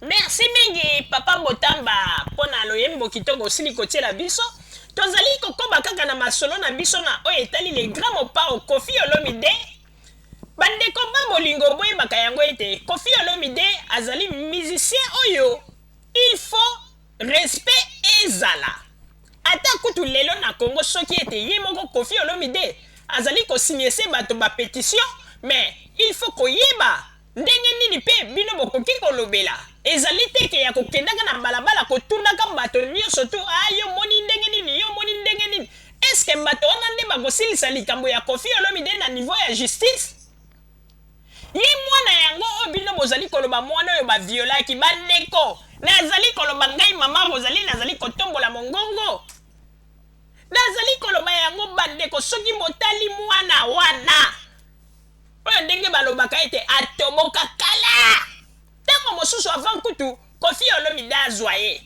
merci mingi papa motamba mpo na loyembo kitoko osili kotiela biso tozali kokoba kaka na masolo na biso na oyo etali le grand mopao kofi olomide bandeko ba bolingo boyebaka yango ete kofi olomide azali musicien oyo il faut Respect ezala. Ata kutu lelo na Congo soki ete ye moko Koffi Olomide azali ko signese bato ba petition mais il faut koyeba ndenge nini pe bino bokoki kolobela. Ezali te ke ya kokendaka na balabala kotunaka bato nionso tout ah yo omoni ndenge nini yo omoni ndenge nini. Est-ce que bato wana nde bakosilisa likambo ya Koffi Olomide na niveau ya justice? Ye mwana yango oyo bino bozali koloba mwana oyo ba violaki ba ndeko nazali koloba ngai maman Rosalie nazali kotombola mongongo nazali koloba yango ba ndeko soki botali mwana wana oyo ndenge balobaka ete atoboka kala tango mosusu avant kutu kofi olomide azwa ye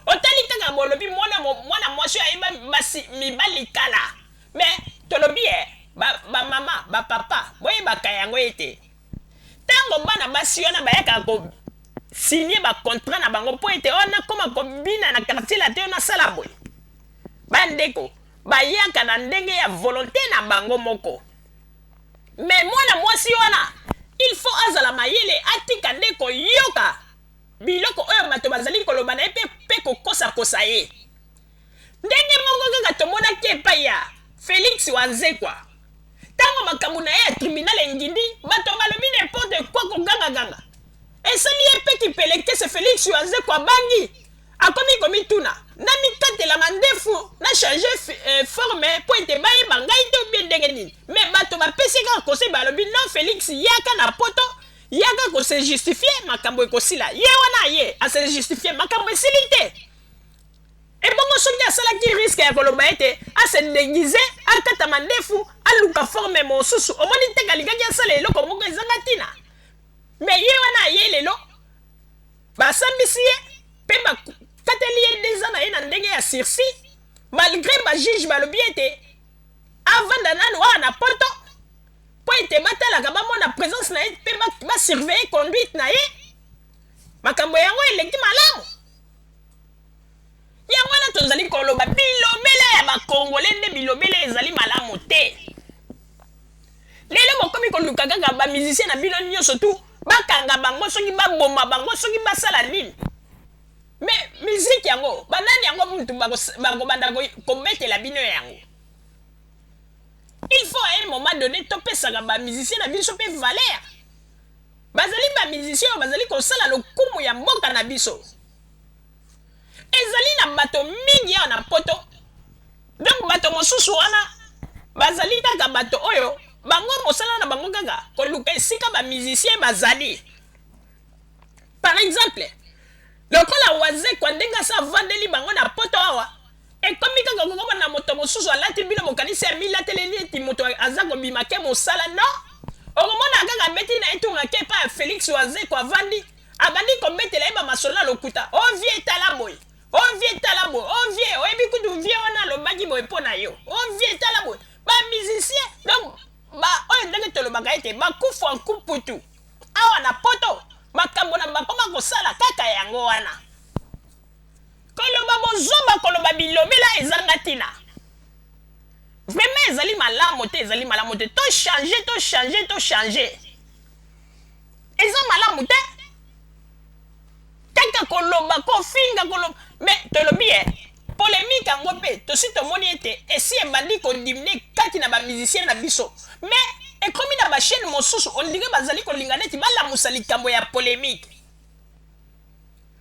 Otali kaka bolobi mwana mwana mwasi ayeba basi mibali kala me tolobi eh, ba, ba mama ba papa boyebaka yango ete ntango bana basi wana bayaka ko signe ba contrat na bango mpo ete oyo oh, nakoma kobina na quartier latin oyo nasala boye bandeko bayaka na ndenge ya volonte na bango moko me mwana mwasi wana il faut azala mayele atika nde koyoka Biloko oyo bato bazali koloba na ye mpe, mpe kokosakosa ye. Ndenge moko kaka tomonaki epai ya Felix Wanzekwa. Tango makambo na ye ya tribunal engindi, bato balobi n'importe quoi, kogangaganga. Esali ye mpe kipelekese, Felix Wanzekwa abangi, akomi komituna, Namikatela mandefu, na changer eh, forme mpo ete bayeba ngai te ou bien ndenge nini? Mais bato bapesi ye kaka conseil, balobi non Felix, yaka na poto, Yaka ko se justifier makambo ekosila ye wana aye a se justifier makambo esili te ebongo soki asalaki riske ya koloba ete ase deguise akata mandefu aluka forme mosusu omoni te kalikaki asala eloko moko ezanga ntina me ye wana aye lelo basambisi ye mpe bakateli ye deza na ye na ndenge ya sursi malgre bajuge balobi ete avanda nanu awa na poto mpo ete batalaka, bamona presence na ye mpe ba surveiller conduite na ye. Makambo yango eleki malamu. Yango wana tozali koloba bilobela ya bakongole nde bilobela ezali malamu te. Lelo bokomi koluka kaka ba musiciens na bino nyonso tu bakanga bango soki baboma bango soki basala nini. Me musique yango banani yango mutu bakobanda kobetela bino yango? Il faut à un moment donné topesaka ba musiciens na biso pe valeur. Bazali ba musiciens oyo bazali kosala lokumu ya mboka na biso. Ezali na bato mingi awa na poto. Donc bato mosusu wana bazali kaka bato oyo bango mosala na bango kaka koluka esika ba musiciens bazali. par exemple lokola wazekwa ndenge asa avandeli bango na poto awa ekomi kaka kokoma na moto mosusu alati bino mokanisi amilateleli eti moto aza kobima ke mosala no okomona kaka abeti na etunga ke epa ya felix wazekwa avandi abandi kobetela ye bamasolo na lokuta o oh, vie tala boye o oh, vie tala boye o oh, vie oyebi kutu vie wana alobaki boye mpo na yo o vie tala boye bamusicien donc baoyo ndenge tolobaka ete bakufu ankuputu Awa na poto makambo na bakoma kosala kaka yango wana koloba bozoba koloba bilobela ezanga tina vraiment ezali malamu te ezali malamu te to change to change to change eza malamu te kaka koloba kofinga koloba me tolobi eh Polemique yango mpe tosi tomoni ete esi ebandi ko diminer kati na ba musiciens na biso mais ekomi na ba chaines mosusu on dirait bazali kolinga neti balamusa likambo ya polemique.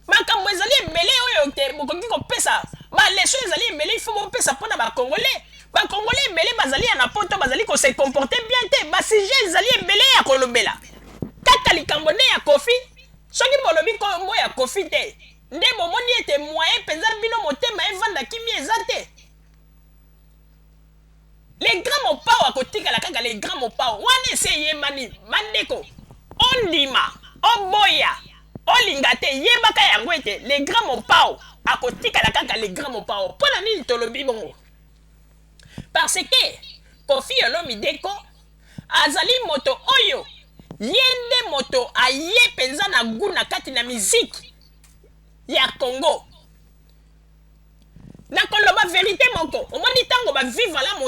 Makambo ezali ebele oyo te bokoki kopesa ba leçons ezali ebele il faut bopesa mpo na ba congolais. Ba congolais ebele bazali ya na poto bazali ko se comporter bien te ba sujets ezali ebele ya kolobela kaka likambo nde ya Koffi soki bolobi kombo ya Koffi te Nde bomoni ete moyen penza bino motema evanda kimia eza te. Le grand Mopao akotikala kaka le grand Mopao. Wana esi eyebani. Ba ndeko, ondima, oboya, olinga te, yebaka yango ete le grand Mopao akotikala kaka le grand Mopao. Pona nini tolobi bongo? parce que koffi olomide ko azali moto oyo ye nde moto aye penza na gout na kati na musique ya congo na koloba verite moko omoni tango ba viva la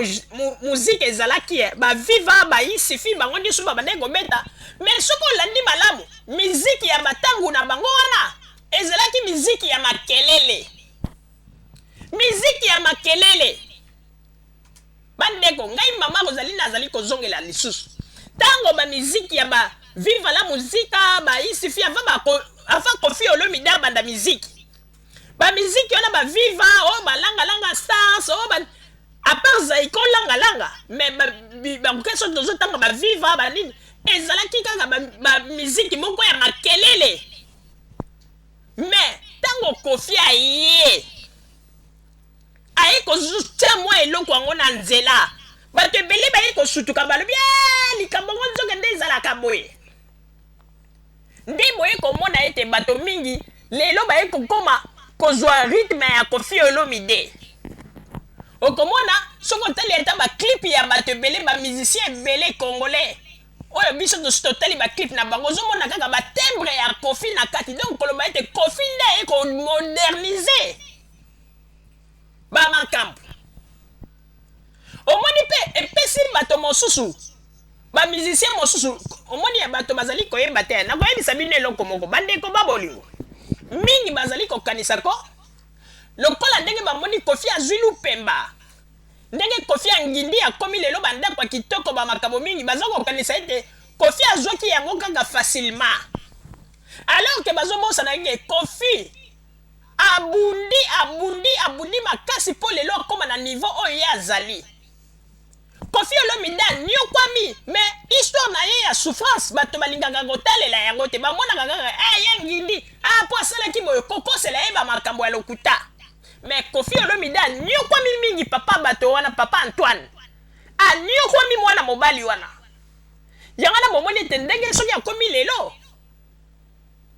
musique ezalaki eh, ba viva ba isifi bango nioso babandaki kobeta mais soki olandi malamu musique ya batangu na bango wana ezalaki musique ya makelele Miziki ya makelele. Bandeko, ngai mama Rosalie nazali kozongela lisusu. Tango ba miziki ya ba Viva la Musica, ba Isifi avant ba ko, avant Koffi Olomide abanda miziki. Ba miziki wana ba Viva, oh ba langa langa stars, oh ba à part Zaiko langa langa, mais ba ba mukesho tozo tanga ba Viva ba nini ezalaki kaka ba, ba miziki moko ya makelele Mais tango Koffi aye aye kotia mwa eloko yango na nzela bato ebele baye kosutuka balobi ee likambo yango nzoka nde ezalaka boye nde boye komona ete bato mingi lelo baye kokoma kozwa rythme ya Koffi Olomide okomona soki otali ata baclipe ya bato ebele bamusicien ebele congolais Oyo biso tosi totali ba clip na bango ozo mona kaka ba timbre ya Koffi na kati donc koloba ete Koffi nde aye ko modernise ba makambo omoni pe epesi bato mosusu ba musicien mosusu omoni ya bato bazali koyeba te nakoyebisa bino eloko moko bandeko ba bolingo mingi bazali kokanisa ko lokola ndenge bamoni kofi azwi lupemba Ndenge Koffi a ngindi akomi lelo ba ndaku ya kitoko ba makambo mingi baza ko kanisa ete Koffi azwaki yango kaka facilement alors que bazo bosana ete Koffi a bundi a bundi a bundi makasi po lelo akoma na niveau oyo ye azali. Koffi Olomide a niokwami mais histoire na ye ya souffrance bato ba lingaka ko talela yango te ba monaka kaka eh ya ngindi ah po asalaki boye ko kosela ye ba makambo ya lokuta. Mais Koffi Olomide aniokwami mingi papa bato wana papa Antoine aniokwami mwana mobali wana yango wana bomoni ete ndenge soki akomi lelo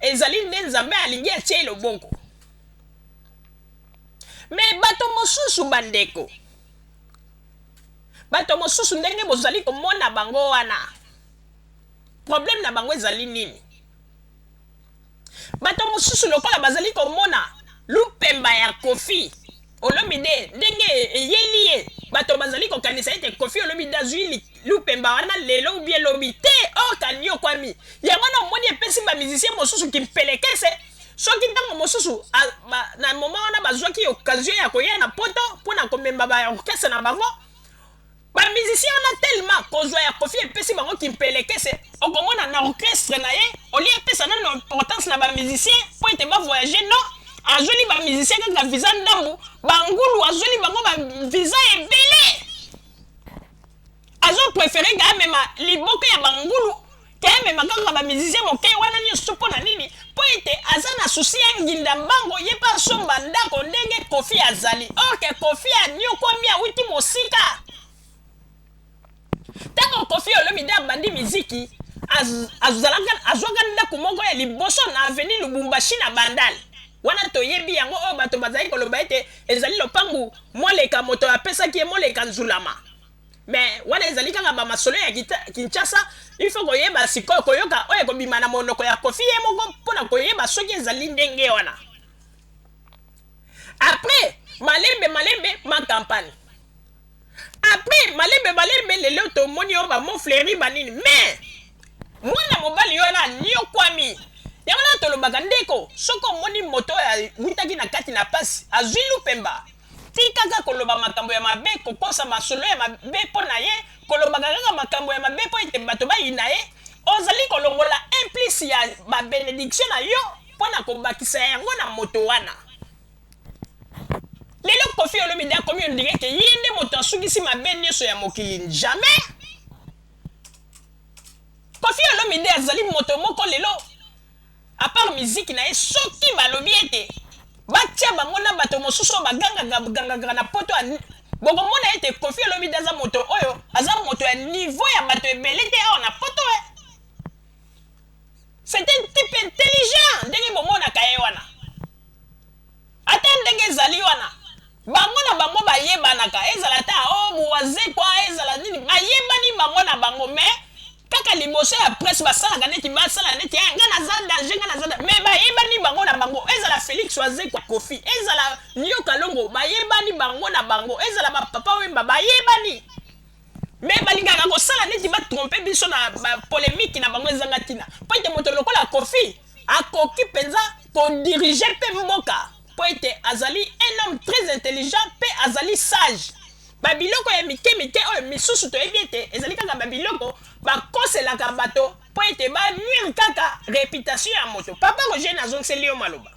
ezali nde Nzambe alingi atie ye loboko mais bato mosusu bandeko bato mosusu ndenge bozali komona bango wana problème na bango ezali nini Bato mosusu lokola bazali komona lupemba ya Koffi Olomide ndenge eyeli ye, bato bazali kokanisa ete Koffi Olomide azui lupemba wana lelo ou bien lobi. Te! Oct aniokwami. Yango wana omoni epesi ba musiciens mosusu kimpelekese soki ntango mosusu na moment wana bazuaki occasion ya koya na poto mpo na komema ba orchestres na bango Ba musiciens wana tellement kozua ya Koffi epesi bango kimpelekese, okomona na orchestre na ye au lieu apesa nanu importance na ba musiciens mpo ete ba voyager non azueli ba musiciens kaka visa ndambu, ba ngulu azueli bango ba visa ebele azo preferer ke amema liboke ya ba ngulu Te mema kaka ba musiciens moke wana nioso po na nini? Po ete aza na souci ya nginda mbango ye pe asomba ndako ndenge Koffi azali or que Koffi aniokuami awuti mosika. Tango Koffi Olomide abandi miziki az azalaka azuaka ndako moko ya liboso na avenue Lubumbashi na Bandal wana toyebi yango oyo bato bazali koloba ete ezali lopangu Moleka moto apesaki ye Moleka Nzulama. Mais wana ezali kaka ba masolo ya Kinshasa, il faut koyeba sikoyo koyoka oyo ekobima na monoko ya Koffi ye moko mpo na koyeba soki ezali ndenge wana. Après malembe malembe ma campagne. Après malembe malembe lelo tomoni yo ba mots fleuris ba nini mais mwana mobali wana anyokwami yango wana tolobaka ndeko soki omoni moto oyo awutaki na kati na pasi azwi lupemba Tika kaka koloba makambo ya mabe, kokosa masolo ya mabe mpo na ye, kolobaka kaka makambo ya mabe mpo ete bato bayina ye. Ozali kolongola un plus ya ba benedictions na yo mpo na kobakisa yango na moto wana. Lelo Koffi Olomide akomi on dirait que ye nde moto asukisi mabe nionso ya mokili. Jamais! Koffi Olomide azali moto moko lelo A part miziki na ye soki balobi ete batia bango na bato mosusu oyo bagangaka gangaka na poto ya bokomona ete Koffi Olomide aza moto oyo aza moto ya niveau ya bato ebele te awa na poto eh c'est un type intelligent ndenge bomonaka ye wana ata ndenge ezali wana bango na bango bayebanaka ezala ata o oh, muwazekwa ezala nini bayebani bango na bango mais Kaka liboso ya presse basalaka neti basala neti eh, nga naza danger nga naza mais bayebani bango na bango ezala Felix Wazekwa Kofi ezala Nio Kalongo bayebani bango na bango ezala ba Papa Wemba bayebani mais balingaka kosala neti ba trompe biso na ba polemique na bango ezanga tina mpo ete moto lokola Kofi akoki mpenza kodirige mpe mboka mpo ete azali un homme très intelligent mpe azali sage babiloko ya mike mike oyo misusu toyebi ete ezali kaka babiloko bakoselaka bato mpo ete banuire kaka reputation ya moto papa roger nazongiseli yo maloba